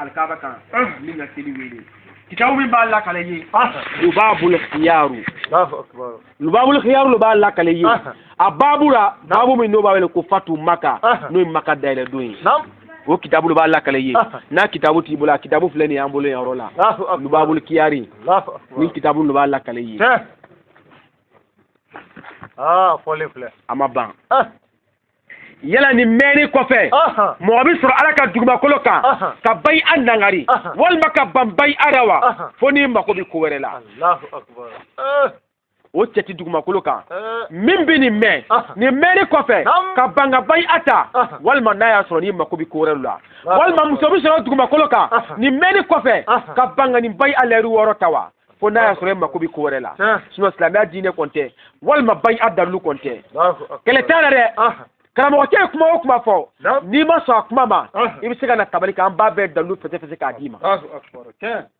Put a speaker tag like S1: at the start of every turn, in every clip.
S1: alikaaba kan min ka seli wele kitabu min b'a lakale ye lubabul khiyaru lubabul khiyaru le b'a lakale ye a babu la babu min n'o b'a wele ko fatu maka n'o ye maka dayɛlɛ don ye o kitabu le b'a lakale ye n'a kitabu t'i bolo a kitabu filɛ nin y'an bolo yan yɔrɔ la lubabul kiyari nin kitabu le b'a lakale ye ah, a ma ban yala nin mɛnni kɔfɛ mɔgɔ bɛ sɔrɔ ala ka dugumakolo kan ka bayi'a nangari walima ka ban bayi'a ra wa fo n'i mako bɛ ko wɛrɛ la o cɛ ti dugumakolo kan eh. min bɛ nin mɛn ah. nin mɛnni kɔfɛ ka ban ka bayi'a ta ah. walima n'a y'a sɔrɔ n'i mako bɛ ko wɛrɛ la ah. walima muso bɛ sɔrɔ dugumakolo kan nin mɛnni kɔfɛ ka ban ka nin bayi'a layidu wɔɔrɔ ta wa fo n'a y'a sɔrɔ e mako bɛ ko wɛrɛ la sinon silamɛya diinɛ kɔni tɛ walima bayi'a dalilu kɔni tɛ kɛlɛ t'a ra dɛ karamɔgɔcɛ ye kuma o kuma fɔ n'i ma sɔn a kuma ma i bɛ se ka na tabali kan an b'a bɛɛ dalilu fɛsɛfɛsɛ k'a d'i ma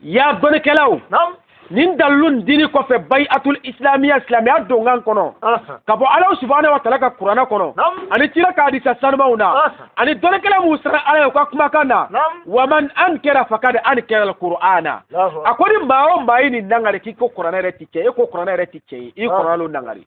S1: ya dɔnnikɛlaw nin dalilu dini kɔfɛ bayi'atul islamiya silamɛya donkan kɔnɔ ka bɔ ala subahana wa taala ka kuranɛ kɔnɔ ani kira ka hadisa sanumanw na ani dɔnnikɛla minnu siran ala ye u ka kumakan na wa man ankara fakad ankara kur'ana a ko ni maa o maa ye nin nangari k'i ko kuranɛ yɛrɛ ti tiɲɛ ye e ko kuranɛ yɛrɛ ti tiɲɛ ye i kuranɛ nangari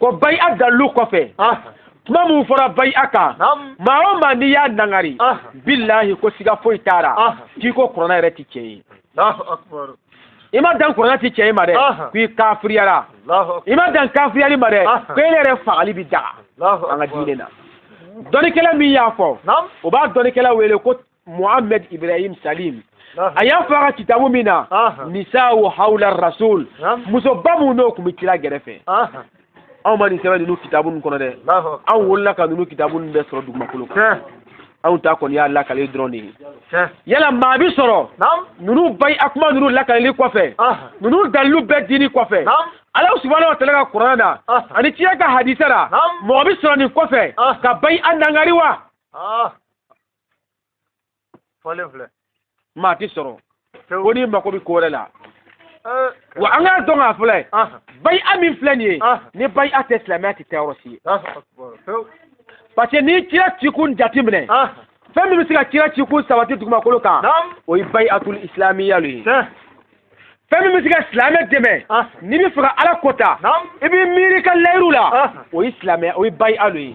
S1: ko bayi'a dalilu kɔfɛ kuma min fɔra bayi'a kan maa o maa n'i y'a nangari bilahi ko siga foyi t'a ra k'i ko kurana yɛrɛ ti tiɲɛ ye i ma dan kurana ti tiɲɛ ye ma dɛ k'i kafiriyara i ma dan kafiriyali ma dɛ ko e yɛrɛ fagali bi daga an ka diinɛ na dɔnnikɛla min y'a fɔ o b'a dɔnnikɛla wele ko muhammed ibrahim salim a y'a fɔ a ka kitabu min na nisa'u hawla rasul musoba minnu n'u tun bɛ kira gɛrɛ fɛ anw ma nin sɛbɛn ninnu kitabu ninnu kɔnɔ dɛ anw wolola ka ninnu kitabu ninnu bɛɛ sɔrɔ dugumakolo kan anw ta kɔni y'a lakaleli dɔrɔn de ye yala maa bi sɔrɔ ninnu bayi'a kuma ninnu lakaleli kɔfɛ ninnu dalilu bɛɛ dini kɔfɛ ala subahana wa taala ka kurana na ani kira ka hadisa ra mɔgɔ bi sɔrɔ nin kɔfɛ ka bayi'a nangari wa fɔlen filɛ maa ti sɔrɔ fo n'i mako bɛ ko wɛrɛ la wa an k'a dɔn k'a fɔ le bayi'a min filɛ nin ye ni bayi'a tɛ silamɛya tɛ taa yɔrɔ si ye parce que n'i kira cikun jateminɛ fɛn min bɛ se ka kira cikun sabati dugumakolo kan o ye bayi'atul isilamiya ye fɛn min bɛ se ka silamɛ dɛmɛ n'i bɛ fɛ ka ala kota i b'i miiri i ka layiru la o ye silamɛya bayia lo ye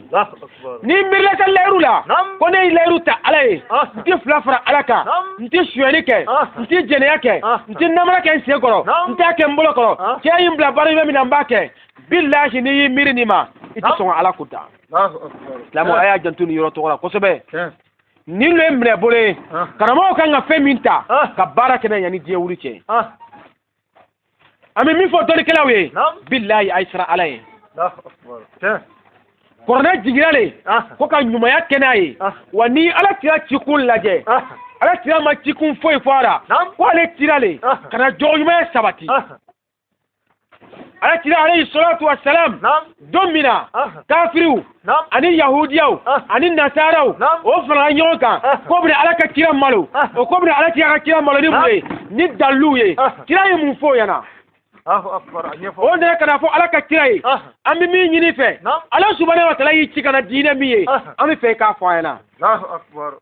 S1: n'i miirila ka layiru la ko ne ye layiru ta ala ye n tɛ fila fara ala kan n tɛ suyɛni kɛ n tɛ jɛnɛya kɛ n tɛ namara kɛ n sen kɔrɔ n t'a kɛ n bolo kɔrɔ kira ye n bila baara ɲuman min na n b'a kɛ bilahi n'i y'i miiri nin ma i tɛ sɔn ka ala kota silamɛw a y'a janto nin yɔrɔ tɔgɔ la kosɛbɛ nin lo ye minɛ bolo ye karamɔgɔ kan ka fɛn min ta ka baara kɛ n'a ye yanni diɲɛ wuli cɛ an bɛ min fɔ dɔnnikɛlaw ye bilayi a ye siran ala ye kɔrɔna jigira le ko ka ɲumanya kɛ n'a ye wa ni ala kira cikun lajɛ ala kira ma cikun foyi fɔ a la ko ale cira le ka na jogoɲumanya sabati ala kira alayhi salatu wassalam don min na kafiriw ani yahudiyaw ani nasaraw o farala ɲɔgɔn kan k'o bɛna ala ka kira malo o k'o bɛna ala kira ka kira malo ni mun ye ni daliluw ye kira ye mun f'o ɲɛna
S2: o nana ka n'a
S1: fɔ ala ka kira ye an bɛ min ɲini i fɛ ala subahana wa taala y'i ci ka na diinɛ min ye an b'a fɛ i k'a fɔ an ɲɛna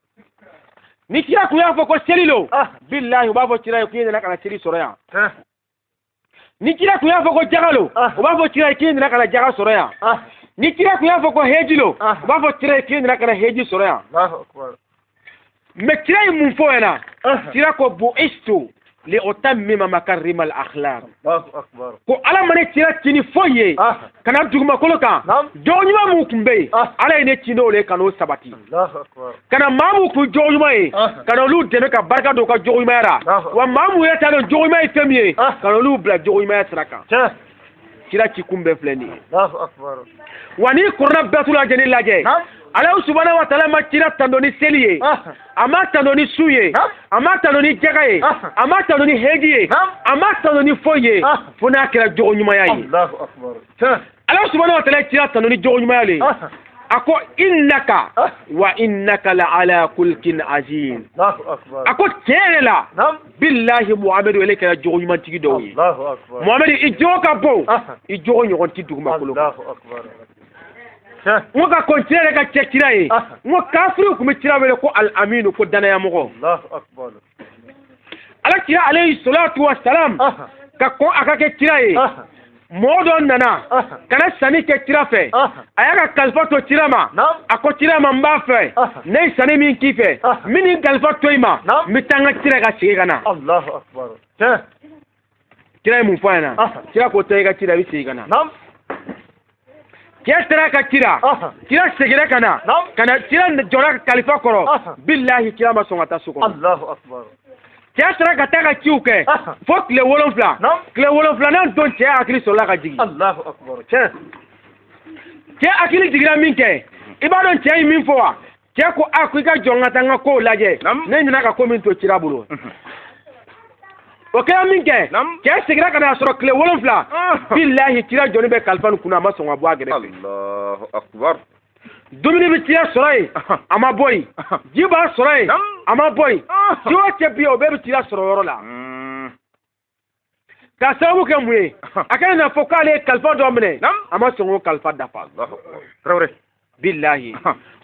S2: ni
S1: kira tun y'a fɔ ko seli lo bilahi u b'a fɔ kira ye k'i nana ka na seli sɔrɔ yan ni kira tun y'a fɔ ko jaga lo ah. u b'a fɔ kira k'i nana ka na jaga sɔrɔ yan ah. ni kira tun y'a fɔ ko heji lo ah. u b'a fɔ kira k'i nana ka na heji sɔrɔ yan mɛ kira ye mun f'o ɲɛna kira ko bu'istu li utammima makarimal akhlaq
S2: ko ala ma ne kira
S1: ci ni foyi ye ka na dugumakolo kan jogo ɲuman minnu tun bɛ yen ah. ala ye ne ci n'o le ka n'o sabati ka
S2: na maa minnu kun
S1: jogo ɲuman ye ah. ka na olu dɛmɛ ka barika don u ka jogo ɲumanya la wa maa minnu yɛrɛ t'a dɔn jogo ɲuman ye fɛn min ye ah. ka na olu bila jogo ɲumanya sira kan kira ci kun bɛɛ filɛ nin
S2: ye wa n'i kɔrɔna
S1: bɛɛ t'u lajɛ ni lajɛ ala subahana wa taala ma kira tando ni seli ye a ma tano ni sun ye a ma tano ni jaga ye a ma tano ni heji ye a ma tano ni foyi ye fo n'a kɛra jogo ɲumanya ye
S2: ala subahana wa taala
S1: ye kira tano ni jogo ɲumanya le a ko innaka wa innaka la ala khuluqin azim a
S2: ko tiɲɛ yɛrɛ
S1: la bilahi muhamadu ale kɛra jogo ɲumantigi dɔ ye muhamadu
S2: i jogo ka
S1: bon i jogo ɲɔgɔn ti dugumakolo n ko ka kɔn kira yɛrɛ ka kɛ kira ye n ko kafiriw tun bɛ kira wele ko al aminu ko dannayamɔgɔ ala kira alayhi salatu wa salam ka kɔn a ka kɛ kira ye mɔgɔ dɔ nana kana sanni kɛ kira fɛ a y'a ka kalifa to kira ma a ko kira ma n b'a fɛ ne ye sanni min k'i fɛ n bɛ nin kalifa to i ma n bɛ taa n ka ci ra ka segin ka na kira ye mun fɔ a ɲɛna Aha. kira ko taa i ka ci la i bɛ segin ka na Naam. cɛ taara ka ci la Aha. kira seginna ka na Naam. ka na kira jɔra kalifa kɔrɔ Aha. bilahi kira ma sɔn ka taa so kɔnɔ Allahu
S2: akbar. cɛ
S1: taara ka taa ka ciw kɛ Aha. fo tile wolonfila Naam. tile wolonfilanan don cɛ hakili sɔrɔla ka jigin Allahu akbar. Tiɲɛ. cɛ hakili jiginna min kɛ i b'a dɔn cɛ ye min fɔ wa cɛ ko a ko i ka jɔ n ka taa n ka kow lajɛ ne ɲinɛ ka ko min to cira bolo o kɛra min kɛ cɛ segira ka na sɔrɔ tile wolonfila bilahi cira jɔni bɛ kalifa nin kunna a ma sɔn ka bɔ a
S2: gɛrɛfɛ
S1: dumuni bɛ cira sɔrɔ yen a ma bɔ yen ji b'a sɔrɔ yen a ma bɔ yen ci o cɛ bi o bɛɛ bɛ cira sɔrɔ yɔrɔ la ka sababu kɛ mun ye a kana n'a fɔ k'ale ye kalifa dɔ minɛ a ma sɔn k'o kalifa dafa tarawele bilahi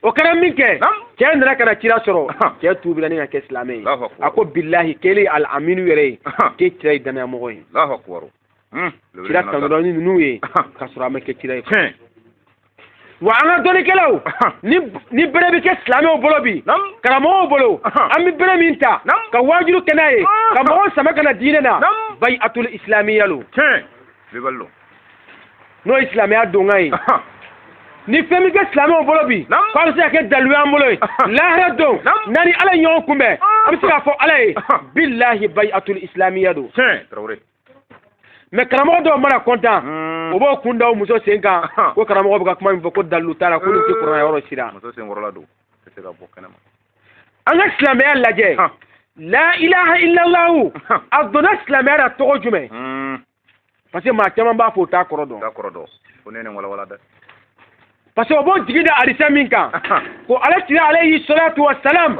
S1: o kɛra min kɛ cɛ nana ka na kira sɔrɔ cɛ tuubila ni ka kɛ silamɛ ye a ko bilahi k'ele al aminu yɛrɛ ye k'e kira ye danayamɔgɔ ye kira tanudɔni ninnu ye ka sɔrɔ a ma kɛ kira ye wa an ka dɔnnikɛlaw ni bere bɛ kɛ silamɛw bolo bi karamɔgɔw bolo an bɛ bere min ta ka waajuli kɛ n'a ye ka mɔgɔw sama ka na diinɛ na bayi atul isilamiya lo n'o ye silamɛya donkan ye ni fɛn bɛ kɛ silamɛw bolo bi k'a bɛ se ka kɛ dalilu y'an bolo ye lahara don n'an ni ala ye ɲɔgɔn kunbɛn an bɛ se k'a fɔ ala ye bilahi bayi atul isilamiya don mais karamɔgɔ dɔw mana kɔntan hmm. o b'o kun da muso sen kan ko karamɔgɔ bɛ ka kuma min fɔ ko dalilu t'a la ko nin tɛ kuranɛ yɔrɔ si la an ka silamɛya lajɛ la ilaha illallahu a donna silamɛya la tɔgɔ jumɛn hmm. parce que maa caman b'a fɔ o t'a kɔrɔ dɔn parce que o b'o jigi da hadisa min kan ko ala kira alayhi salatu wa salam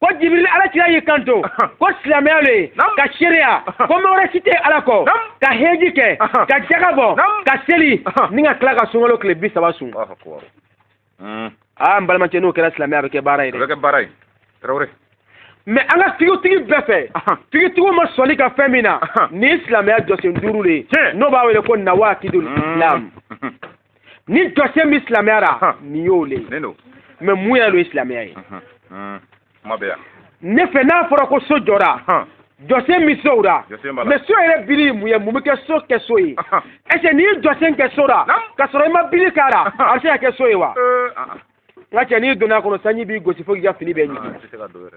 S1: ko jibirili ala kira y'i kanto ko silamɛya le ye ka seereya ko ma wɛrɛ si tɛ ala kɔ ka heji kɛ ka jaga bɔ ka seli ni ka tila ka sunkalo tile bi saba sun hmm. aa n balimakɛ n'o kɛra silamɛya bɛ kɛ baara ye dɛ kɛ baara ye tarawele mais an ka fikihutigi bɛɛ fɛ fikihutigiw ma sɔnni ka fɛn min na nin ye silamɛya jɔsen duuru de ye n'o b'a wele ko nawaakidul islam hmm. ni jɔsen bɛ silamɛya la nin y'o le mais mun yɛrɛ lo ye silamɛya ye ne fɛ n'a fɔra ko so jɔra jɔsen bɛ sow la mais so yɛrɛ bili mun ye mun bɛ kɛ so kɛ so ye est-ce que n'i ye jɔsen kɛ so la ka sɔrɔ i ma bili k'a la a bɛ se ka kɛ so ye wa n ka cɛ n'i donna a kɔnɔ sanji b'i gosi fo k'i ka fini bɛɛ ɲigin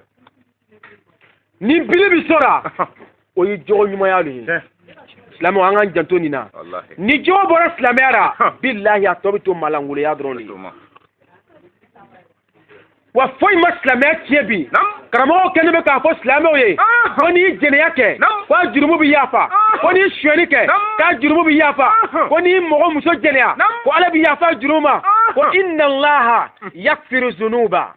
S1: ni bili bi so ra o ye jogo ɲumanya le ye silamɛw an k'an janto nin na ni jogo bɔra
S2: silamɛya
S1: ra bilahi a tɔ bɛ to malangoloya dɔrɔn le wa foyi ma silamɛya tiɲɛ bi karamɔgɔw kɛlen bɛ k'a fɔ silamɛw ye ko n'i ye jɛnɛya kɛ ko a jurumu bɛ yafa ko n'i ye suyɛni kɛ k'a jurumu bɛ yafa ko n'i ye mɔgɔ muso jɛnɛya ko ala bɛ yafa jurumu ma ko inna allaha yaghfiru zunuba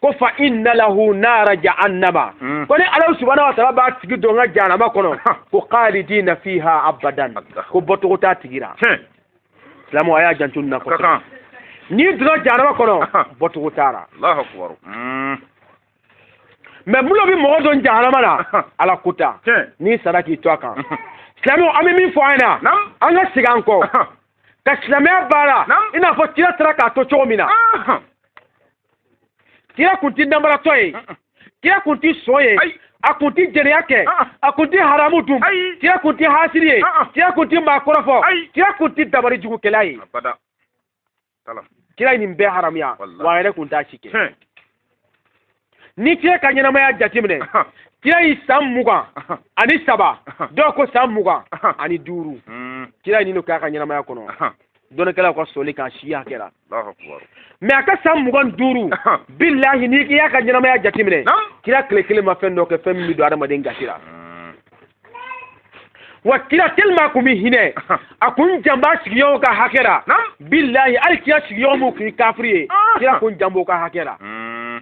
S1: ko fa inna lahu nara jahannama hmm. ko ne ala subhanahu wa ta'ala b'a tigi don n ka jahannama kɔnɔ ko khalidina fiha abadan ko bɔcogo t'a tigi la silamɛw a y'a janto nin na kosɛbɛ n'i donna jahannama kɔnɔ bɔcogo t'a la hmm. mais mun le bɛ mɔgɔ don jahannama la ala ko ta n'i sara k'i to a kan silamɛw an bɛ min fɔ an ɲɛna an ka segin an kɔ ka silamɛya baara i n'a fɔ kira taara k'a to cogo min na kira kun ti namaratɔ ye kira kun ti son ye a kun ti jɛnɛya kɛ a kun ti haramu dun kira kun ti hasiri ye kira kun ti maa kɔrɔfɔ kira kun ti dabari jugukɛla ye kira ye nin bɛɛ haramuya wa a yɛrɛ kun t'a si kɛ n'i kira ka ɲɛnamaya jateminɛ kira ye san mugan ani saba dɔw ko san mugan ani duuru hmm. kira ye nin k'a ka ɲɛnamaya kɔnɔ dɔnnikɛlaw ka sɔsɔli k'a si hakɛ la mais a ka san mugan duuru bilahi n'i y'a ka ɲɛnamaya jateminɛ kira tile kelen ma fɛn dɔ kɛ fɛn min bɛ don adamaden gasi la mm. wa kira tellement a kun bɛ hinɛ a kun jan b'a sigiɲɔgɔnw ka hakɛ la bilahi hali kira sigiɲɔgɔn min kun ye kafiri ye ah. kira kun jan b'o ka hakɛ la mm.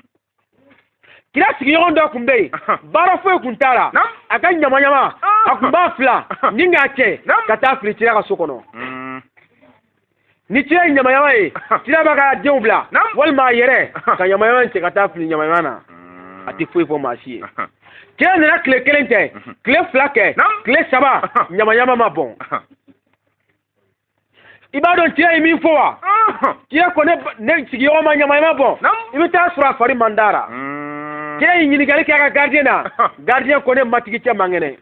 S1: kira sigiɲɔgɔn dɔ kun bɛ yen baara foyi kun t'a la a ka ɲamaɲama a kun b'a filan ni k'a cɛ ka taa fili kira ka so kɔnɔ mm. ni kira ye ɲamaɲama ye kira b'a ka denw bila walima a yɛrɛ ka ɲamaɲama cɛ ka taa fili ɲamaɲama na mm. a tɛ foyi fɔ maa si ye kira nana tile kelen kɛ mm-hmm. tile fila kɛ tile saba ɲamaɲama ma bɔn i b'a dɔn kira ye min fɔ wa kira ko ne sigiɲɔgɔn ma ɲamaɲama bɔn i bɛ taa sɔrɔ a fari man d'a ra mm. kira ye ɲininkali kɛ a ka gardien na gardien ko ne matigi cɛ man kɛnɛ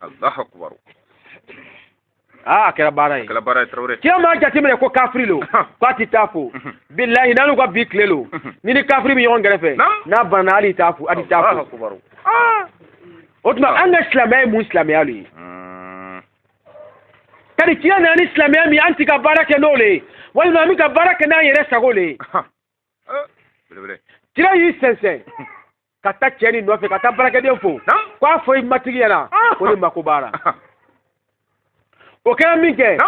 S1: aa a kɛra baara ye kira m'a jateminɛ ko kafiri lo ko a tɛ taa fo bilahi n'alu ka bi tile lo n'i ni kafiri bɛ ɲɔgɔn kɛrɛfɛ n'a banna hali t'a fo a tɛ taa fo o tuma an ka silamɛya ye mun silamɛya lo ye kadi kira nana ni silamɛya min an ti ka baara kɛ n'o le ye walima an bɛ ka baara kɛ n'an yɛrɛ sago le ye eh, kira y'i sɛnsɛn ka taa cɛ nin nɔfɛ ka taa baarakɛden fo ko a fɔ i matigi ɲɛna ko ne mako b'a la o kɛra min kɛ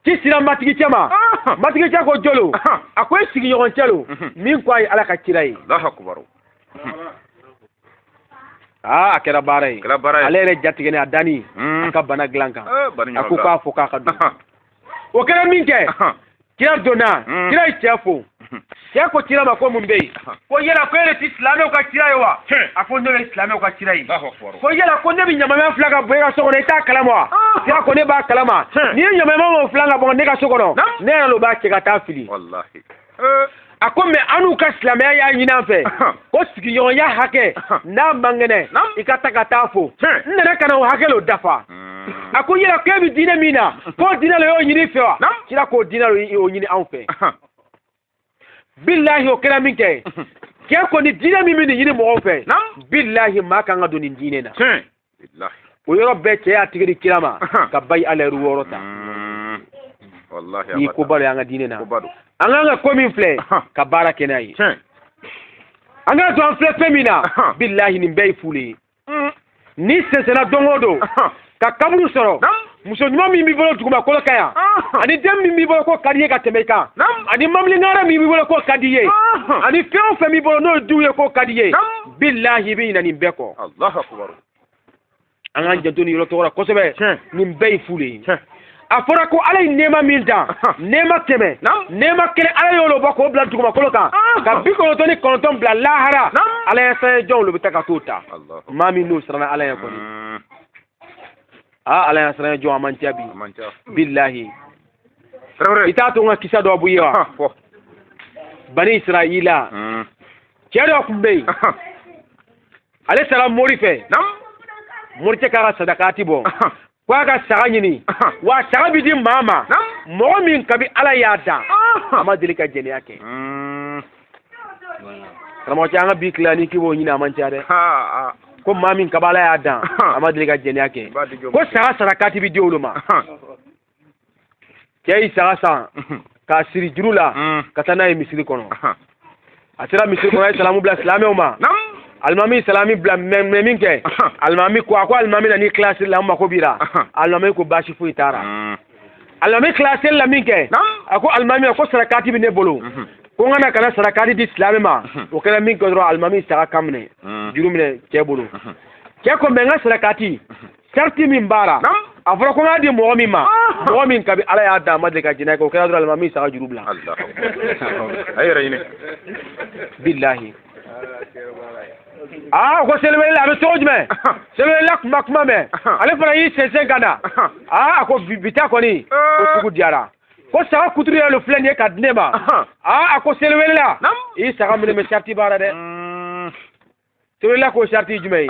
S1: ci sera matigi cɛ ma matigi cɛ ko jɔn lo a ko e sigiɲɔgɔn cɛ lo min ko a ye ala ka kira ye aa a kɛra baara ye kɛra baara ye ale yɛrɛ jatigɛlen a danni a ka bana dilan kan a ko k'a fɔ k'a ka don o kɛra min kɛ kira donna kira ye cɛ fo cɛ ko kira ma ko mun bɛ yen ko yala ko e de ti silamɛw ka kira ye wa a ko ne bɛ silamɛw ka kira ye ko yala ko ne bɛ ɲaman min filan ka bɔn e ka so kɔnɔ i t'a kalama wa kira ko ne b'a kalama n'i ye ɲaman min filan ka bɔn ne ka so kɔnɔ ne yɛrɛ de b'a cɛ ka taa fili a ko mɛ annu ka silamɛya y'a ɲini an fɛ ko sigiɲɔgɔnya hakɛ n'a man kɛnɛ i ka taa ka t'a fo n nana ka na o hakɛ lo dafa hmm. a ko yala k'e bɛ diinɛ min na k'o diinɛ lo y'o ɲini fɛ wa kira k'o diinɛ lo y'o ɲini anw fɛ bilahi o kɛra min kɛ cɛ ko ni diinɛ min bɛ nin ɲini mɔgɔw fɛ bilahi maa kan ka don nin diinɛ na o yɔrɔ bɛɛ cɛ y'a tigɛ di kira ma ka bayi alɛri wɔɔrɔ ta mm. nin koba lo an ka diinɛ na an kan ka ko min filɛ ka baara kɛ n'a ye an k'a to an filɛ fɛn min na bilahi nin bɛɛ ye fuu de ye mm. n'i sɛnsɛnna don o don ka kaburu sɔrɔ muso ɲuman min b'i bolo dugumakolo kan yan ani den min b'i bolo k'o ka di ye ka tɛmɛ i kan ani mamilingara min b'i bolo k'o ka di ye ani fɛn o fɛn b'i bolo n'o ye du ye k'o ka di ye bilahi i bɛ ɲinɛ nin bɛɛ kɔ an k'an janto nin yɔrɔ tɔgɔ la kosɛbɛ nin bɛɛ ye fu de ye a fɔra ko ala ye nɛɛma min dan nɛɛma kɛmɛ nɛɛma kelen ala y'o bɔ k'o bila dugumakolo kan ka bi kɔnɔntɔn ni kɔnɔntɔn bila lahara ala ɲɛsiran jɔnw de bɛ taa ka t'o ta maa minnu siranna ala ye kɔni aa ala ɲasiran jɔn a man ca bi bilahi i t'a to n ka kisa dɔ bɔ i ye wa bani israila hmm. cɛ dɔ tun bɛ yen ale sera mori fɛ moricɛ k'a ka sadakati bɔ ko a ka saga ɲini wa saga bɛ di maa ma mɔgɔ min kabi ala y'a dan a ma deli ka jɛnɛya kɛ hmm. karamɔgɔ cɛ an ka bi tile nin k'i b'o ɲini a man ca dɛ ko maa min kabi ala y'a dan a ma deli ka jɛnɛya kɛ ko saga sarakati bi di olu ma cɛ yi saga san k'a siri juru la mm. ka taa n'a ye misiri kɔnɔ a sera misiri kɔnɔ a ye salamu bila silamɛw ma alimami salamu bila mɛn min kɛ alimami ko a ko alimami na n'i tila seli la n mako b'i la alimami ko baasi foyi t'a la mm. alimami tila seli la min kɛ a ko alimami ko sarakati bɛ ne bolo mhm. ko n ka na ka na sarakati di silamɛ ma mhm. o kɛra min kɛ dɔrɔn alimami saga kan minɛ mhm. juru minɛ cɛ bolo cɛ ko mɛ n ka sarakati sarati min b'a ra a fɔra ko n k'a di mɔgɔ min ma ah. mɔgɔ min kabi ala y'a dan a ma deli ka jɛnɛya kɛ o kɛra dɔrɔn alimami saga juru bila a yɛrɛ ɲini bilahi aa ko seliwelela a bɛ cogo jumɛn seliwelela kuma kuma mɛn ale fana y'i sɛnsɛn ka na aa a ko bi ta kɔni ko sugu diyara ko saga kuturu yɛrɛ filɛ nin ye ka di ne ma aa a ko seliwelela i saga minɛ mɛ sariti b'a la dɛ seliwelela ko sariti jumɛn ye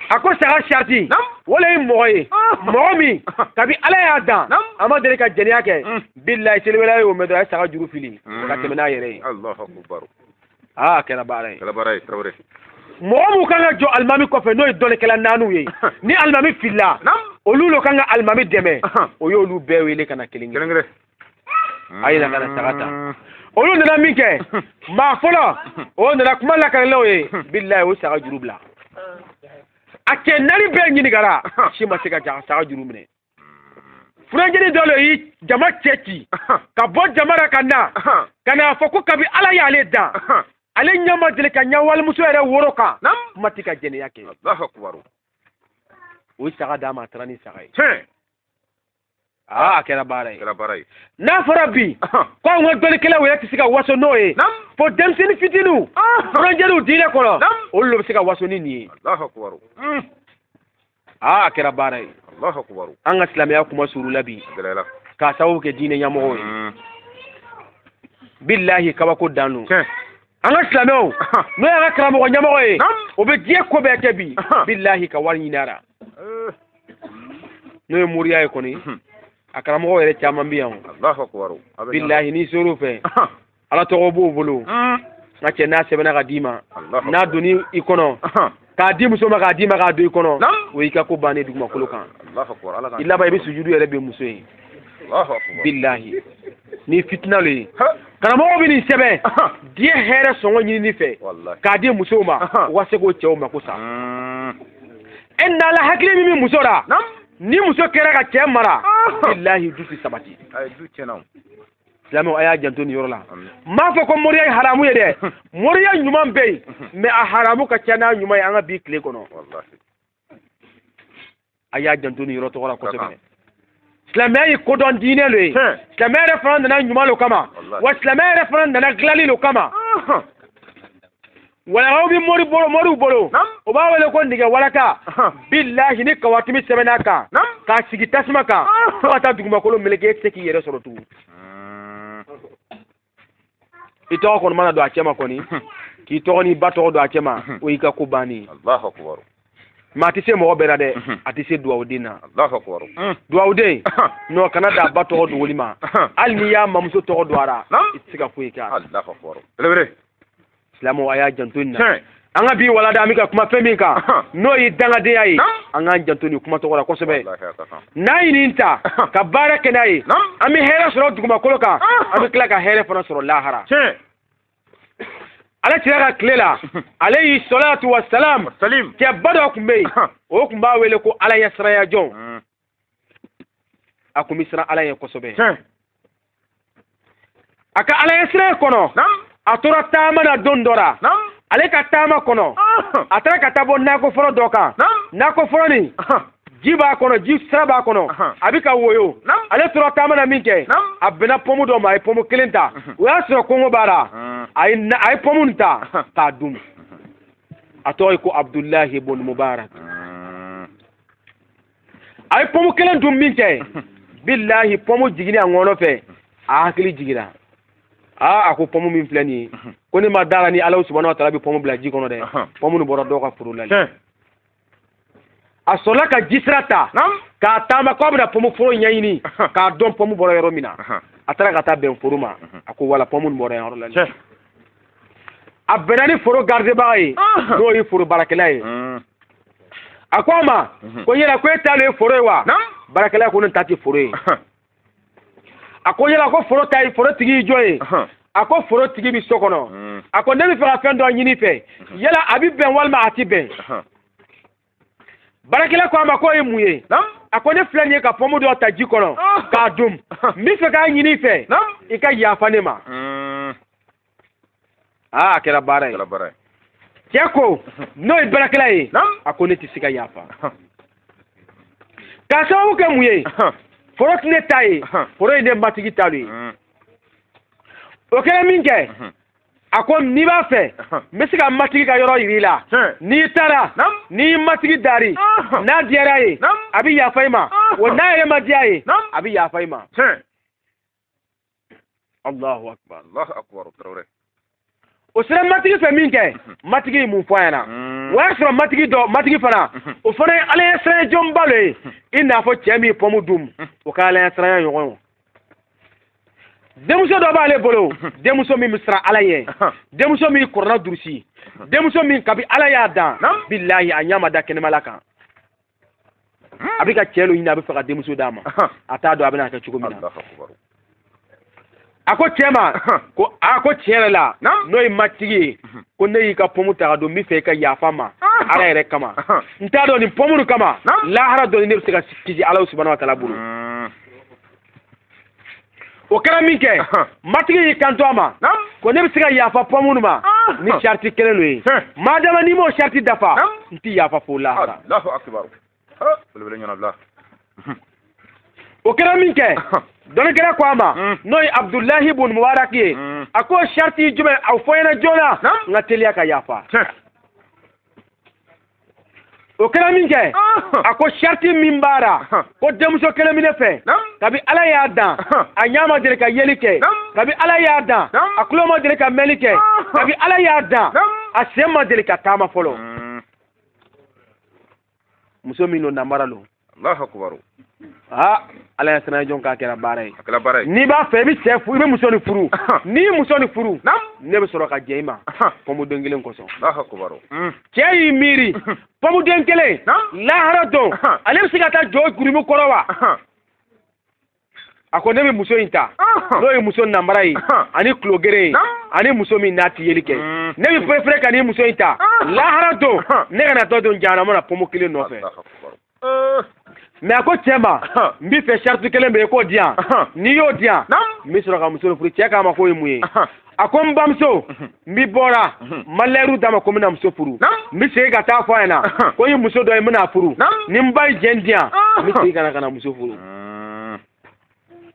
S1: a ko saga sariti walayi mɔgɔ ye mɔgɔ min kabi ala y'a dan a ma deli ka jɛnɛya kɛ bilayi seliwelela y'o mɛn dɔrɔn a ye saga juru fili ka tɛmɛ n'a yɛrɛ ye aa a kɛra baara ye kɛra baara ye tarawele mɔgɔ minnu kan ka jɔ alimami kɔfɛ n'o ye dɔnnikɛla naaniw ye ni alimami fila olu lo kan ka alimami dɛmɛ o y'olu bɛɛ wele ka na kelen kelen a ye na ka na saga ta mm. olu nana min kɛ maa fɔlɔ o nana kuma lakali olu ye bilayi o saga juru bila a cɛ naani bɛɛ ɲininkara si ma se ka saga juru minɛ funankɛnin dɔ le y'i jama cɛ ci ka bɔ jama ra ka na ka n'a fɔ ko kabi ala y'ale dan ale ɲɛ ma deli ka ɲɛ walimuso yɛrɛ woro kan kuma tɛ ka jɛnɛya kɛ o saga d'a ma a taara ni saga ye aa a kɛra baara ye kɛra baara ye n'a fɔra bi ko anw ka dɔnnikɛlaw yɛrɛ tɛ se ka waso n'o ye fo denmisɛnnin fitiniw funankɛninw diinɛ kɔnɔ olu de bɛ se ka waso ni nin ye aa a kɛra baara ye allahu akbar an ka silamɛya kunmasuurula bi gɛlɛyara k'a sababu kɛ diinɛ ɲɛmɔgɔw ye Mm. bilahi kabako dan don tiɲɛ an ka silamɛw Ahan. n'o y'an ka karamɔgɔ ɲɛmɔgɔ ye Naam. o bɛ diɲɛ ko bɛɛ kɛ bi Ahan. bilahi ka wari ɲini a la Eh, n'o ye moriya ye kɔni Mhm. a karamɔgɔ yɛrɛ caman bɛ yan o. allahu akbar a bɛ ɲa- bilahi n'i ser'o fɛ Ahan. ala tɔgɔ b'o bolo hmm. nka cɛ n'a sɛbɛnna ka d'i ma n'a donna i kɔnɔ k'a di muso ma k'a d'i ma k'a don i kɔnɔ o y'i ka ko bannen dugumakolo kan i laban i bɛ sujudu yɛrɛ bɛ muso ye bilahi nin fitina le ye karamɔgɔ bɛ nin sɛbɛn diɲɛ hɛrɛ sɔngɔ ɲinini fɛ k'a di musow ma u ka se k'o cɛw mako sa hmm. e nala hakili min bɛ muso la ni muso kɛra ka cɛ mara bilahi du tɛ sabati silamɛw a y'a janto nin yɔrɔ la n m'a fɔ ko moriya ye haramu ye dɛ moriya ɲuman bɛ yen mɛ a haramu ka ca n'a ɲuman ye an ka bi tile kɔnɔ a y'a janto nin yɔrɔ tɔgɔ la kosɛbɛ silamɛya ye kodɔn diinɛ lo ye silamɛya yɛrɛ fana nana ɲuman lo kama wa silamɛya yɛrɛ fana nana dilanni lo kama walaw bɛ mori bolo moriw bolo u b'a wele ko nɛgɛ walaka bilahi ni kawatimi sɛbɛnn'a kan k'a sigi tasuma kan fo ka taa dugumakolo meleke e tɛ se k'i yɛrɛ sɔrɔ tugun i tɔgɔ kɔni mana don a cɛma kɔni k'i tɔgɔ n'i ba tɔgɔ don a cɛma o y'i ka ko bannen ye mɛ a tɛ se mɔgɔ bɛɛ la dɛ a tɛ se duwawuden na duwawuden nɔ kana da a ba tɔgɔ dogoli ma hali n'i y'a mamuso tɔgɔ don a la i tɛ se ka foyi kɛ a la silamɛw a y'a janto nin na an ka bi walada an bɛ ka kuma fɛn min kan n'o ye dangadenya ye an k'an janto nin kuma tɔgɔ la kosɛbɛ n'an ye nin ta ka baara kɛ n'a ye an bɛ hɛrɛ sɔrɔ dugumakolo kan an bɛ tila ka hɛrɛ fana sɔrɔ lahara ala cira ka tile la alayhi salatu wa salam cɛba dɔ kun bɛ yen o kun b'a wele ko ala ɲɛsiranya jɔn a kun bɛ siran ala ɲɛ kosɛbɛ a ka ala ɲɛsiranya kɔnɔ a tora taama na don dɔ la ale ka taama kɔnɔ ah. a taara ka taa bɔ nakɔ foro dɔ kan nakɔ foro nin ji b'a kɔnɔ ji sira b'a kɔnɔ a bɛ ka woyo ale tora taama na min kɛ a bɛnna pɔmu dɔ ma a ye pɔmu kelen ta o y'a sɔrɔ kɔngɔ b'a la a ye pɔmu nin ta k'a dun a tɔgɔ ye ko abudulayi bun mubarak a ye pɔmu kelen dun min kɛ bilahi pɔmu jiginni a ŋɔnɔ fɛ a hakili jigira aa a ko pɔmu min filɛ nin ye ko ne ma da la ni ala subahana wa taala bɛ pɔmu bila ji kɔnɔ dɛ pɔmu nin bɔra dɔ ka foro la de a sɔrɔla ka jisira ta ka taama k'a bɛna pɔmu foro ɲɛɲini k'a dɔn pɔmu bɔra yɔrɔ min na a taara ka taa bɛn foro ma a ko wala pɔmu nin bɔra yɔrɔ la a bɛnna ni foro garidibaga ye n'o ye foro baarakɛla ye a ko a ma ko yala ko e ta de ye foro ye wa baarakɛla ko ne ta tɛ foro ye a ko yala ko foro tigi ye jɔn ye a ko foro tigi bɛ so kɔnɔ a ko ne bɛ fɛ ka fɛn dɔ ɲini i fɛ yala a bɛ bɛn walima a tɛ bɛn baarakɛla ko a ma k'o ye mun ye a ko ne filɛ nin ye ka pɔmu dɔ ta ji kɔnɔ ah. k'a dun n bɛ fɛ k'a ɲini i fɛ i ka yafa ne ma hmm. aa ah, a kɛra baara ye cɛ ko n'o ye baarakɛla ye a ko ne tɛ se ka yafa k'a sababu kɛ mun ye foro tɛ ne ta ye foro ye ne matigi ta de ye hmm. o kɛra min kɛ hmm. a ko n'i b'a fɛ n bɛ se ka matigi ka yɔrɔ yir'i la n'i taara n'i matigi dari n'a diyara a ye a bɛ yafa i ma wa n'a yɛrɛ ma diya a ye a bɛ yafa i ma Allahu akbar Allahu akbar Traoré o sera matigi fɛ min kɛ matigi ye mun fɔ a ɲɛna hmm. o y'a sɔrɔ matigi dɔ matigi fana hmm. o fana ye ala ɲɛsiranya jɔnba dɔ ye hmm. i n'a fɔ cɛ min ye pɔmu dun o ka ala ɲɛsiranya ɲɔgɔn ye denmuso dɔ b'ale bolo denmuso min bɛ siran ala ɲɛ denmuso min kurana durusi denmuso min kabi ala y'a dan bilahi a ɲɛ ma da kɛnɛmala kan a bɛ ka cɛ dɔ ɲini a bɛ fɛ ka denmuso d'a ma a t'a dɔn a bɛna kɛ cogo min na a ko cɛ ma ko a ko tiɲɛ yɛrɛ la n'o ye matigi ye ko ne y'i ka pɔmu ta ka dun n bɛ fɛ i ka yafa n ma ala yɛrɛ kama n t'a dɔn ni pɔmu nin kama lahara don ni ne bɛ se ka kisi ala subahana wa taala bolo o kɛra min kɛ matigi y'i kanto a ma ko ne bɛ se ka yafa pɔmu nin ma ni sariti kelen dɔ ye madama n'i m'o sariti dafa n tɛ yafa fo lahara o kɛra min kɛ dɔnnikɛla ko a ma hmm. n'o ye abudulahi bun mubarak ye hmm. a ko sariti jumɛn a fɔ n ɲɛna joona n ka teliya ka yafa o kɛra min kɛ a ko sariti min b'a la ko denmuso kelen bɛ ne fɛ kabi ala y'a dan a ɲɛ ma deli ka yeli kɛ kabi ala y'a dan a tulo ma deli ka mɛnli kɛ kabi ala y'a dan a sen ma deli ka taama fɔlɔ muso min don namara don Allahu
S2: akbar
S1: aa ala ɲɛsiran jɔn k'a kɛra baara ye n'i b'a fɛ i bɛ cɛ furu i bɛ muso nin furu n'i ye muso nin furu ne bɛ sɔrɔ ka jɛn i ma pɔmuden kelen kosɔn Allahu akbar mm. cɛ y'i miiri pɔmuden kelen lahara don ale bɛ se ka taa jɔ jurumu kɔrɔ wa a ko ne bɛ muso in ta n'o ye muso namara ye ani tulogɛrɛn ye ani muso min n'a tɛ yeli kɛ mm. ne bɛ perefere ka nin muso in ta lahara don ne kana taa don jahanama na pɔmu kelen nɔfɛ mɛ a ko cɛ ma n b'i fɛ sariti kelen bɛ yen k'o di yan n'i y'o di yan n bɛ sɔrɔ ka muso furu cɛ k'a ma k'o ye mun ye a ko n bamuso n bi bɔra n ma layidu d'a ma ko n bɛna muso furu n bɛ segin ka taa fɔ a ɲɛna ko n ye muso dɔ ye n bɛna furu ni n ba ye jɛn di yan n bɛ segin ka na ka na muso furu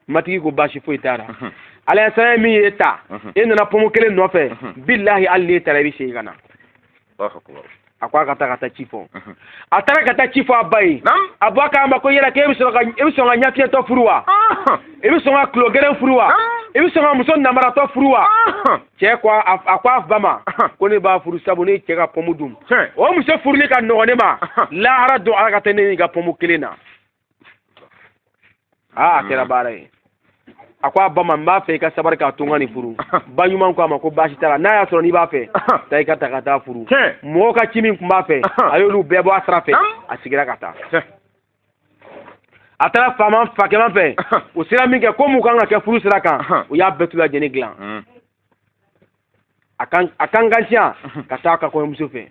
S1: matigi ko baasi foyi t'a la ala ɲɛsiran min y'e ta e nana pɔmu kelen nɔfɛ bilahi hali n'e taara i bɛ segin ka na a ko a ka taa ka taa ci fɔ a taara ka taa ci fɔ a ba ye a ba k'a ma ko yala k'e bɛ sɔn ka ɲɛfiyɛtɔ furu wa e bɛ sɔn ka tulo gɛrɛn furu wa e bɛ sɔn ka muso namaratɔ furu wa cɛ ko a ko a ba ma ko ne b'a furu sabu ne ye cɛ ka pɔmu dun o muso furuli ka nɔgɔn ne ma lahara don ala ka taa ne ɲininka pɔmu kelen na aa a kɛra baara ye a ko a ba ma n b'a fɛ i ka sabari k'a to n ka nin furu ba ɲuman ko a ma ko baasi t'a la n'a y'a sɔrɔ n'i b'a fɛ taa i k'a ta ka taa furu mɔgɔ ka ci min tun b'a fɛ a y'olu bɛɛ bɔ a sira fɛ a sigira ka taa a taara fakɛman fɛ u sera min kɛ ko mun kan ka kɛ furu sira kan u y'a bɛɛ tu lajɛlen dilan a kan a kan kantiya ka taa a ka kɔɲɔmuso fɛ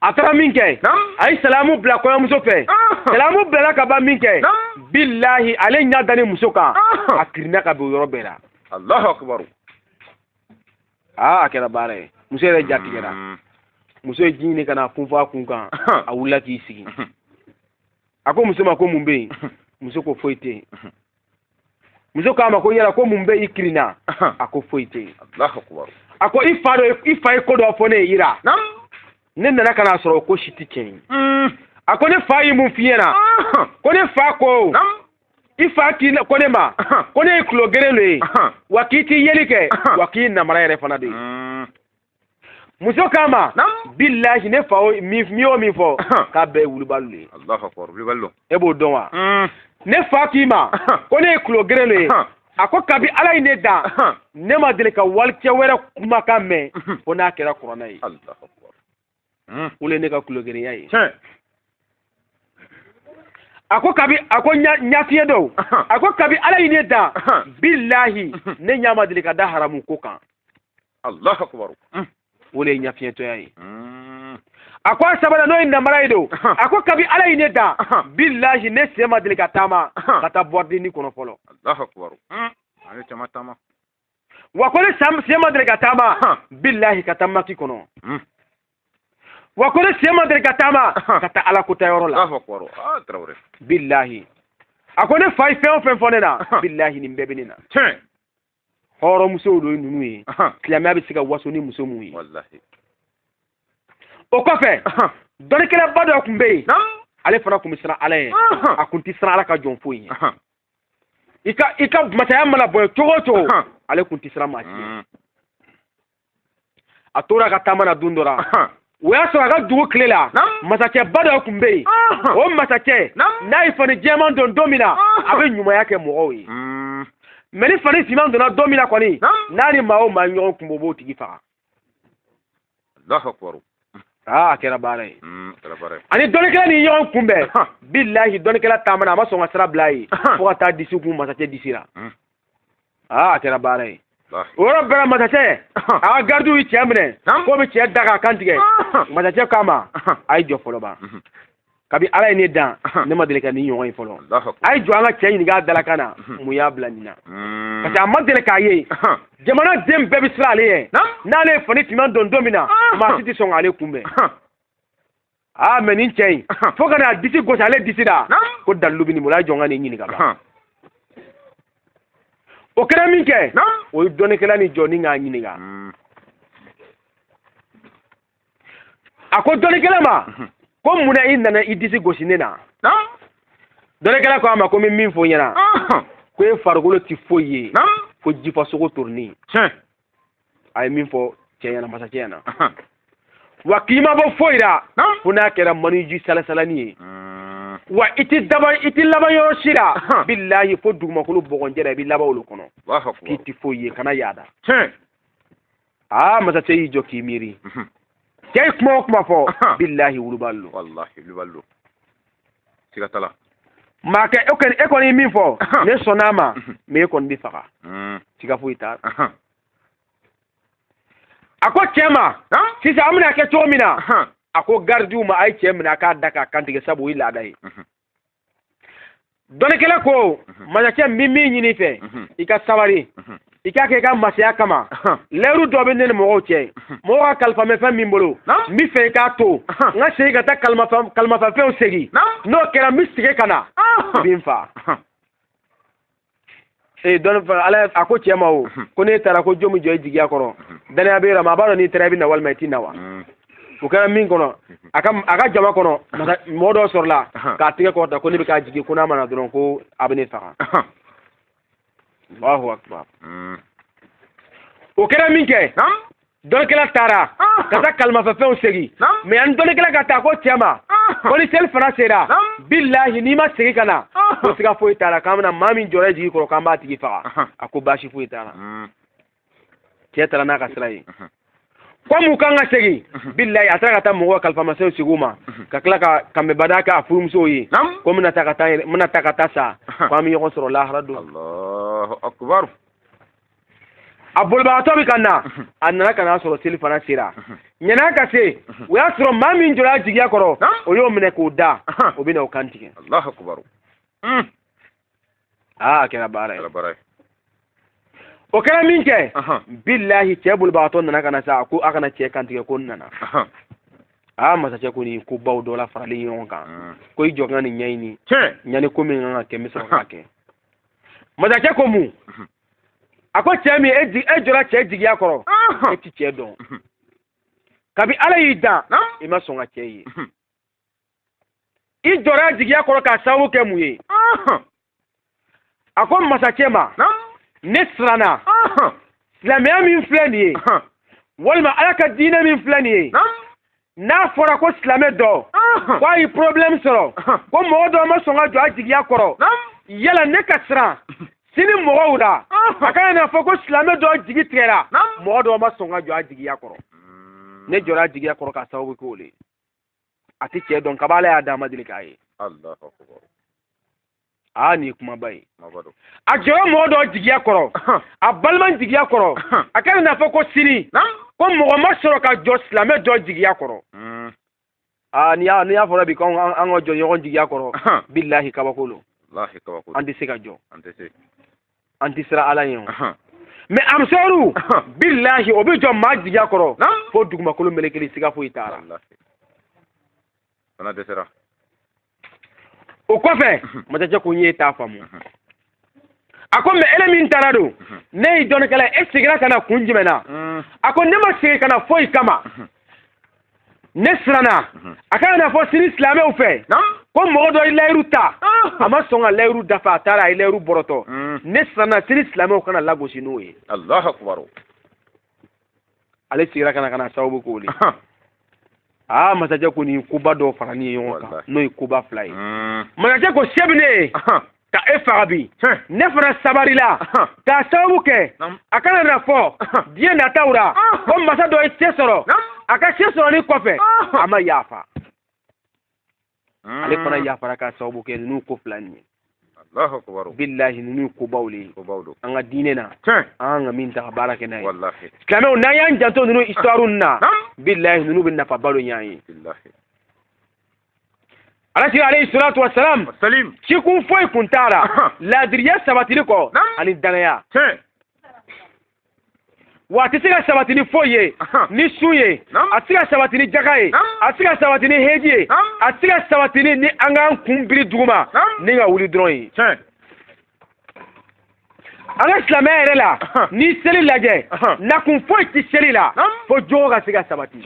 S1: a taara min kɛ a ye salamu bila kɔɲɔmuso fɛ salamu bilala ka ban min kɛ bilahi ale ɲɛ dalen muso kan a kirinna ka bin o yɔrɔ bɛɛ la alahu
S2: akibaru
S1: aa a kɛra baara ye muso yɛrɛ ja tigɛra muso ye ji ɲini ka na funfun a kun kan a wulila k'i sigi a ko muso ma ko mun bɛ yen muso ko foyi tɛ yen muso k'a ma ko yala ko mun bɛ i kiri na a ko foyi tɛ yen
S2: a ko i fa dɔ
S1: i fa ye ko dɔ fɔ ne ye i ra ne nana ka n'a sɔrɔ o ko si tɛ tiɲɛ ye mm. a ko ne fa ye mun f'i ɲɛna ko ne fa ko i fa k'i na ko ne ma ko ne ye kulo geren de ye wa k'i tɛ yeli kɛ wa k'i namara yɛrɛ fana de ye mm. muso k'a ma bilahi ne fa min o min fɔ k'a bɛɛ ye wulibali de ye
S2: e b'o dɔn wa
S1: hmm. ne fa k'i ma ko ne ye kulo geren de ye a ko kabi ala ye ne dan ne ma deli ka walicɛ wɛrɛ kumakan mɛn fo n'a kɛra kuranɛ ye
S2: hmm. o le ne
S1: ka kulogerenya ye a ko kabi a ko ɲafiɲɛ do a ko kabi ala ye ne dan bilahi ne ɲa ma deli ka da haramu ko kan alahu
S2: akubar hmm. o le
S1: ye ɲafiɲɛtɔya ye hmm. a ko a sabanan n'o ye namara ye do a ko kabi ala ye ne dan bilahi ne sen ma deli ka taama ka taa bɔridini kɔnɔ fɔlɔ alahu akubar
S2: a ye caman taama wa
S1: ko ne sen ma deli ka taama bilahi ka taa maki kɔnɔ hmm. wa ko ne sen ma deli ka taama ka taa ala kota yɔrɔ la ah,
S2: bilahi
S1: a ko ne fa ye fɛn o fɛn fɔ ne na bilahi nin bɛɛ bɛ ne na hɔrɔnmusow don ninnu ye silamɛya bɛ se ka waso ni muso mun ye o kɔfɛ dɔnnikɛlaba dɔ kun bɛ yen ale fana kun bɛ siran ala ye a kun tɛ siran ala ka jɔn foyi ye i ka i ka masaya mana bonya cogo o cogo ale kun tɛ siran maa si ye a tora ka taama na don dɔ la o y'a sɔrɔ a ka dugu kile la masakɛba dɔ kun bɛ yen o masakɛ n'a ye fani jɛman don don min na a bɛ ɲumanya kɛ mɔgɔw ye mɛ ni fani finman donna don min na kɔni n'a ni maa o maa ɲɔgɔn kunbɛn o b'o tigi faga
S2: Allahu akbar aa a
S1: kɛra baara ye mm, a
S2: ni dɔnnikɛla nin ye
S1: ɲɔgɔn kunbɛn bilahi dɔnnikɛla taamana a ma sɔn ka sira bila a ye fo ka taa disi kun masakɛ disi la mm. aa a kɛra baara ye o yɔrɔ bɛɛ la masakɛ a ka garidiw ye cɛ minɛ k'o bɛ cɛ da k'a kan tigɛ masakɛ k'a ma a ye jɔ fɔlɔ ban mm-hmm. kabi ala ye ne dan ne ma deli ka nin ɲɔgɔn ye fɔlɔ a ye jɔ an ka cɛ ɲininka a dalakan na mun y'a bila nin na hmm. parce que a ma deli k'a ye jamana den bɛɛ bɛ siran ale ye n'ale ye fani finman don don min na maa si tɛ sɔn k'ale kunbɛn aa mɛ nin cɛ in fo ka n'a disi gosi ale disi la ko dalilu bɛ nin bolo a ye jɔ an ka nin ɲininka ban o kɛra min kɛ o ye dɔnnikɛla nin jɔ ni k'a ɲininka hmm. a ko dɔnnikɛla ma mhm. ko mun na i nana i disi gosi ne na dɔnnikɛla ko a ma ko n bɛ min fɔ i ɲɛna ko e farikolo tɛ foyi ye ko jifa sogo torinin a ye min fɔ cɛ ɲɛna masakɛ ɲɛna wa k'i ma bɔ foyi la fo n'a kɛra maniji salasalani ye mm. wa i tɛ daba i tɛ laban yɔrɔ si la bilahi fo dugumakolo bɔgɔnjɛ la i bɛ laban olu kɔnɔ k'i tɛ foyi ye kana yaada aa masakɛ y'i jɔ k'i miiri mhm. cɛ ye kuma o kuma fɔ bilahi wulubali lo walahi wulubali lo
S2: siga t'a la maa
S1: kɛ e kɔni e kɔni ye min fɔ ne sɔnna a ma mhm. mɛ e kɔni bɛ faga mm. siga foyi t'a la a ko cɛ ma sisan an bɛna kɛ cogo min na a ko garidiw ma a ye cɛ minɛ a k'a da k'a kantigɛ sabu o ye laada ye mhm. dɔnnikɛla ko mhm. masakɛ n bɛ min ɲini i fɛ mhm. i ka sabari mhm. i k'a kɛ i ka masaya kama lɛyiru dɔ bɛ ne ni mɔgɔw cɛ mɔgɔ ka kalifamafɛn bɛ n bolo n b'a fɛ i k'a to n ka segin ka taa kalifamafɛnw segin n'o kɛra n bɛ segin ka na ah. i bɛ n fa ee dɔnni fana ala a ko cɛ ma o mhm. ko n'e taara ko jɔn bɛ jɔ i jigiya kɔrɔ mhm. danaya b'e rɔ maa b'a dɔn n'i taara i bɛ na walima i tɛ na wa mhm. o kɛra min kɔnɔ a ka a ka jama kɔnɔ mɔgɔ dɔ sɔrɔla k'a tɛgɛ kɔrɔta ko ne bɛ k'a jigi ko n'a ma na dɔrɔn ko a bɛ ne faga alahu akubar o kɛra minkɛ dɔnnikɛla taara ka taa kalifamafɛnw segin mɛ yani dɔnnikɛla ka taa ko cɛ ma ko ni selifana sera bilahi n'i ma segin ka na ko siga foyi t'a la k'an bɛna maa min jɔra i jigi kɔrɔ k'an b'a tigi faga a ko baasi foyi t'a la cɛ taara n'a ka sira ye kɔmu kan ka segin bilahi a taara ka taa mɔgɔw kalifamafɛnw segin u ma ka tila ka kanbɛbada kɛ a furumusow ye ko n bɛna taa ka taa n bɛna taa ka taa sa ko an bɛ ɲɔgɔn sɔrɔ lahara don a bolibagatɔ bɛ ka na a nana ka n'a sɔrɔ selifana sera ɲani a ka se o y'a sɔrɔ maa min jɔra a jigiya kɔrɔ o y'o minɛ k'o da o bɛna o kantigɛ
S2: aa
S1: a kɛra baara ye o kɛra minkɛ bilahi cɛ bolibagatɔ nana ka na sa ko a kana cɛ kantigɛ ko n nana aa masakɛ ko nin kobaw dɔ la faralen ɲɔgɔn kan ko i jɔ ka nin ɲɛɲini ɲani ko min kan ka kɛ n bɛ sɔrɔ k'a kɛ masakɛ ko mun a ko cɛ min e, e jɔra cɛ jigiya kɔrɔ e ti cɛ dɔn kabi ala y'i dan i ma sɔn ka cɛ ye i jɔra a jigiya kɔrɔ k'a sababu kɛ mun ye a ko masakɛ ma ne siranna silamɛya min filɛ nin ye walima ala ka diinɛ min filɛ nin ye n'a fɔra ko silamɛ dɔ ko a ye problème sɔrɔ ko mɔgɔ dɔ ma sɔn ka jɔ a jigiya kɔrɔ yala ne ka siran sini mɔgɔw la a kana na fɔ ko silamɛ dɔ jigi tigɛra mɔgɔ dɔ ma sɔn ka jɔ a jigiya kɔrɔ hmm. ne jɔra a jigiya kɔrɔ k'a sababu k'o le a tɛ cɛ dɔn kab'ala y'a d'a ma deli k'a ye aa nin ye kumaba ye a jɔra mɔgɔ dɔ jigiya kɔrɔ a balima jigiya kɔrɔ a kana na fɔ ko sini ko mɔgɔ ma sɔrɔ ka jɔ silamɛ dɔ jigiya kɔrɔ hmm. aa n'i y'a fɔra bi ko an ka jɔ ɲɔgɔn jigiya kɔrɔ bilahi kabako lo an tɛ se ka jɔ an tɛ siran ala ye o mais ansaruw bilahi o bɛ jɔ maa jigiya kɔrɔ fo dugumakolo melekeli siga foyi t'a la fana dɛsɛra o kɔfɛ masakɛ ko n y'e ta faamu a ko mais ele min taara don ne ye dɔnnikɛla e seginna ka na kun jumɛn na a ko ne ma segin ka na foyi kama ne siranna a kana na fɔ sini silamɛw fɛ ko mɔgɔ dɔ ye layiru ta a ma sɔn ka layiru dafa a taara a ye layiru bɔrɔtɔ ne siranna sini silamɛw kana lagosi n'o ye ale segira ka na k'a sababu k'o le aa masakɛ ko nin koba dɔ faranin ye ɲɔgɔn kan n'o ye koba fila ye hmm. masakɛ ko se bɛ ne ye ka e faga bi ne fana sabarila k'a sababu kɛ a kana na fɔ diɲɛ nataw la ko masa dɔ ye se sɔrɔ a ka se sɔrɔli kɔfɛ a ma yafa hmm. ale fana yafara k'a sababu kɛ ninnu ko fila nin ye bilahi ninnu kobaw le an ka diinɛ na an ka min ta ka baara kɛ n'a ye silamɛw n'an y'an janto ninnu histoire na bilahi ninnu bɛ nafaba dɔ ɲ'an ye ala kira alayhi salatu wa salam cikun foyi kun t'a la laadiriya sabatili kɔ ani dannaya wa a tɛ se ka sabati ni foyi ye ni sun ye a tɛ se ka sabati ni jaga ye a tɛ se ka sabati ni heji ye a tɛ se ka sabati ni ni an k'an kun biri duguma ni ka wuli dɔrɔn ye an ka silamɛya yɛrɛ la n'i seli lajɛ nakun foyi tɛ seli la fo jogo ka se ka sabati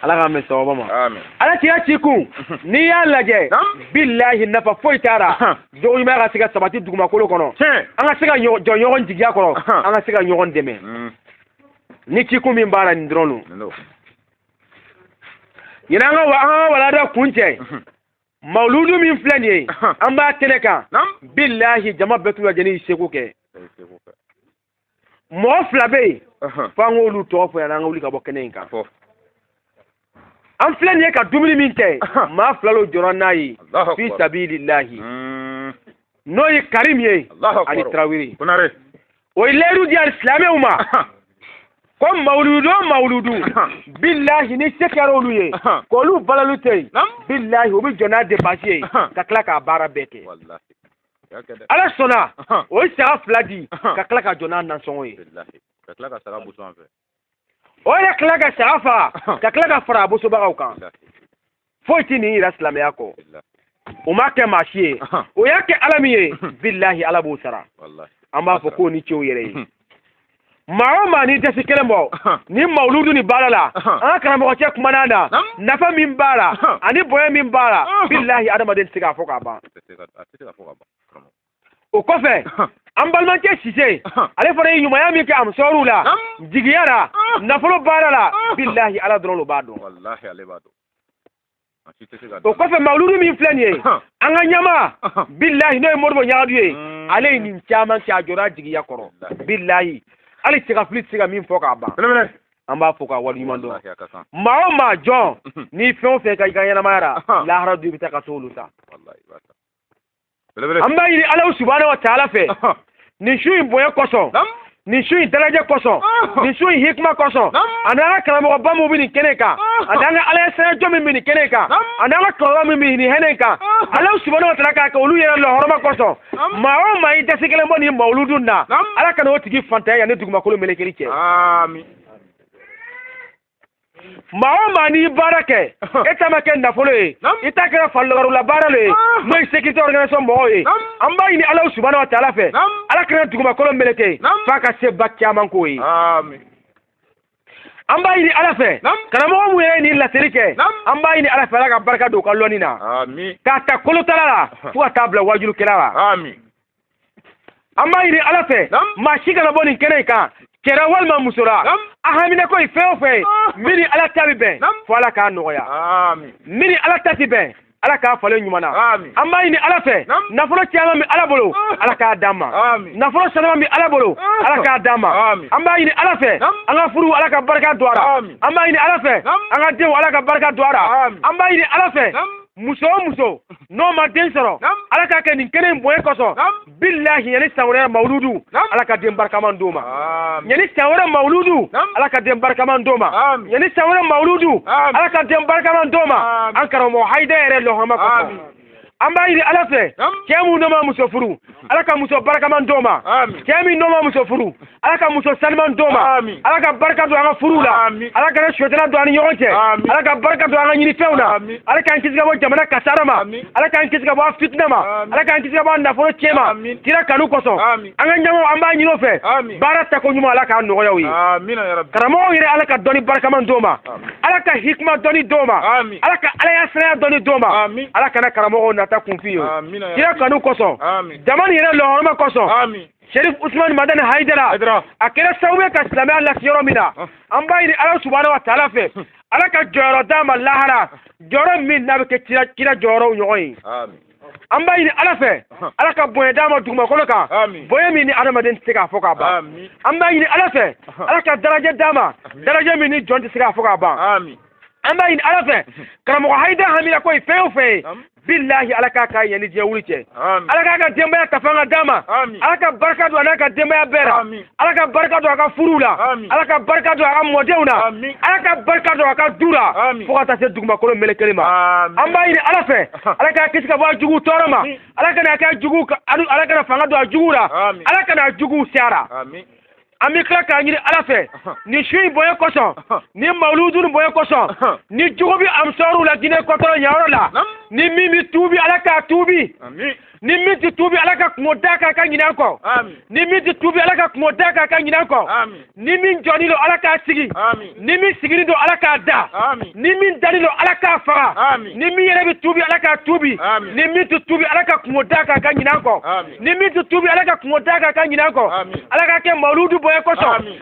S1: ala k'an bɛ sababa ma ala kira ci kun n'i y'a lajɛ bilahi nafa foyi t'a la jogo ɲuman ka se ka sabati dugumakolo kɔnɔ an ka se ka jɔ ɲɔgɔn jigiya kɔrɔ an ka se ka ɲɔgɔn dɛmɛ mm. ni ci kun min b'a la nin dɔrɔn don ɲinan an ka an ka walanda kuncɛ mawuludu min filɛ nin ye an b'a kɛnɛ kan bilahi jama bɛɛ t'u ka jɛni seko kɛ mɔgɔ fila bɛ yen f'an k'olu tɔgɔ fɔ yan an ka wuli ka bɔ kɛnɛ in kan an filɛ nin ye ka dumuni min kɛ maa fila lo jɔra n'a ye fi sabililahi hmm. n'o ye karim ye ani tarawele o ye layidu di alisilamɛw ma ko mawuludu o mawuludu bilahi ni se kɛra olu ye k'olu balalu tɛ yen bilahi o bɛ jɔ n'a depansi ye ka tila k'a baara bɛɛ kɛ ala sɔnna o ye saga fila di ka tila ka jɔ n'a nasɔngɔ ye o yɛrɛ tila ka saga faga ka tila ka fara a bosobagaw kan foyi tɛ nin yira silamɛya kɔ o ma kɛ maa si ye o y'a kɛ ala min ye bilahi ala b'o sara an b'a fɔ k'o ni ce o yɛrɛ ye maa o maa n'i dɛsi kelen bɔ ni mawuludu nin baara la an ka karamɔgɔcɛ kumana na nafa min b'a la ani bonya min b'a la bilahi adamaden tɛ se k'a fɔ k'a ban o kɔfɛ an balimakɛ sise ale fana ye ɲumanya min kɛ amusɔrɔw la jigiya la nafolo baara la bilahi ala dɔrɔn lo b'a dɔn o kɔfɛ mawuludu min filɛ nin ye an ka ɲɛmaa bilahi n'o ye modibo ɲagadu ye mm. ale ye nin caman kɛ a jɔra jigiya kɔrɔ bilahi hali cɛgafili tɛ se ka min fɔ k'a ban an b'a fɔ k'a waleɲuman dɔn maa o maa jɔn n'i fɛn o fɛn kɛ i ka ɲɛnamaya la lahara don i bɛ taa ka t'olu ta an b'a ɲini alahu subahana wa taala fɛ nin su in bonya kosɔn nin su in daraja kosɔn nin su in hikima kosɔn ani an ka karamɔgɔba min bɛ nin kɛnɛ kan ani an ka ala ye sɛnɛjɔ min bɛ nin kɛnɛ kan ani an ka kɔrɔba min bɛ nin kɛnɛ kan alahu subahana wa taala k'a kɛ olu yɛrɛ la hɔrɔma kosɔn maa o maa i dɛsi kelen bɔ nin mawuludu na ala kana o tigi fantanya yanni dugumakolo melekeli cɛ. maa o maa n'i baara kɛ i ta ma kɛ nafolo ye i ta kɛra farikolo la baara le ye n'o ye sécurité organisation mɔgɔw ye an b'a ɲini alahu subahana wa taala fɛ ala kana dugumakolo meleke f'a ka se ba caman k'o ye an b'a ɲini ala fɛ karamɔgɔ min yɛrɛ nin laseli kɛ an b'a ɲini ala fɛ ala ka barika don u ka lɔnni na k'a ta
S2: kolotala
S1: la fo ka taa bila waajulukɛla la an b'a ɲini ala fɛ maa si kana bɔ nin kɛnɛ in kan cɛ ra walima muso ra a haminako ye fɛn o fɛn ye ah. min ni ala ta bɛ bɛn fo ala k'a nɔgɔya min ni
S2: ala ta tɛ
S1: bɛn ala k'a falen ɲuman na an b'a ɲini
S2: ala
S1: fɛ nafolo caman bɛ ala bolo ah. ala k'a d'an ma nafolo sanuma bɛ ala bolo ah. ala k'a d'an ma an b'a ɲini ala fɛ an ka furu ala ka barika don a la an b'a ɲini ala fɛ an ka denw ala ka barika don a la an b'a ɲini ala fɛ muso o muso n'o ma den sɔrɔ ala k'a kɛ nin kɛnɛ in bonya kosɔn bilahi yanni san wɛrɛ mawuludu ala ka den barikaman d'o ma yanni san wɛrɛ mawuludu ala ka den barikaman d'o ma yanni san wɛrɛ mawuludu ala ka den barikaman d'o ma an karamɔgɔ hayida yɛrɛ lɔhɔrɔma kosɔn an b'a ɲini ala fɛ cɛ minnu n'o ma muso furu ala ka muso barikaman d'o ma cɛ min n'o ma muso furu ala ka muso saniman d'o ma ala ka barika don an ka furuw la ala kana sitanɛ don an ni ɲɔgɔn cɛ ala ka barika don an ka ɲinifɛnw na ala k'an kisi ka bɔ jamana kasara ma ala k'an kisi ka bɔ an fitina ma ala k'an kisi ka bɔ an nafolo cɛn ma kira kanu kosɔn an ka ɲɛmɔgɔ an b'a ɲini o fɛ baara tako ɲuman ala k'a nɔgɔya u ye karamɔgɔw
S2: yɛrɛ ala ka dɔnni
S1: barikaman d'o ma ala ka hikima dɔnni d'o ma ala ka alaɲɛsiranya dɔnni d'o ma ala kana karamɔgɔw nata kunfin ye kira kanu kosɔn jama nin yɛrɛ lɔhɔrɔma kosɔn sherif usman madani haidara a kɛra sababu ye ka silamɛya lase yɔrɔ min na an b'a ɲini ala subahana wa taala fɛ ala ka jɔyɔrɔ d'a ma lahara jɔyɔrɔ min n'a bɛ kɛ kira jɔyɔrɔw ɲɔgɔn ye an b'a ɲini ala fɛ ala ka bonya d'a ma dugumakolo kan bonya min ni adamaden tɛ se k'a fɔ k'a ban an b'a ɲini ala fɛ ala ka darajɛ d'a ma darajɛ min ni jɔn tɛ se k'a fɔ k'a ban an b'a ɲini ala fɛ karamɔgɔ hayida haminanko ye fɛn o fɛn ye bilahi ala k'a kɛ yanni diɲɛ wuli cɛ ala k'a ka denbaya ka fanga d'a ma ala ka barika don a n'a ka denbaya bɛɛ la ala ka barika don a ka furuw la ala ka barika don a ka mɔdenw na ala ka barika don a ka du la fo ka taa se dugumakolo melekelen ma an b'a ɲini ala fɛ ala k'a kisi ka bɔ a jugu tɔɔrɔ ma ala kana kɛ jugu ala kana fanga don a jugu la ala kana a juguw se a ra an bɛ tila k'a ɲini ala fɛ nin su in bonya kosɔn nin mawuludu in bonya kosɔn ni jugu bɛ ansaruw la jinɛ kɔtɔrɔ yanyɔrɔ la ni min bɛ tuubi ala k'a tuubi ni min tɛ tuubi ala ka kunko d'a kan a ka ɲinɛ an kɔ ni min tɛ tuubi ala ka kunko d'a kan a ka ɲinɛ an kɔ ni min jɔnin don ala k'a sigi ni min siginin don ala k'a da ni min danin don ala k'a faga ni min yɛrɛ bɛ tuubi ala k'a tuubi ni min tɛ tuubi ala ka kunko d'a kan a ka ɲinɛ an kɔ ni min tɛ tuubi ala ka kunko d'a kan a ka ɲinɛ an kɔ ala k'a kɛ mawuludu bonya kosɔn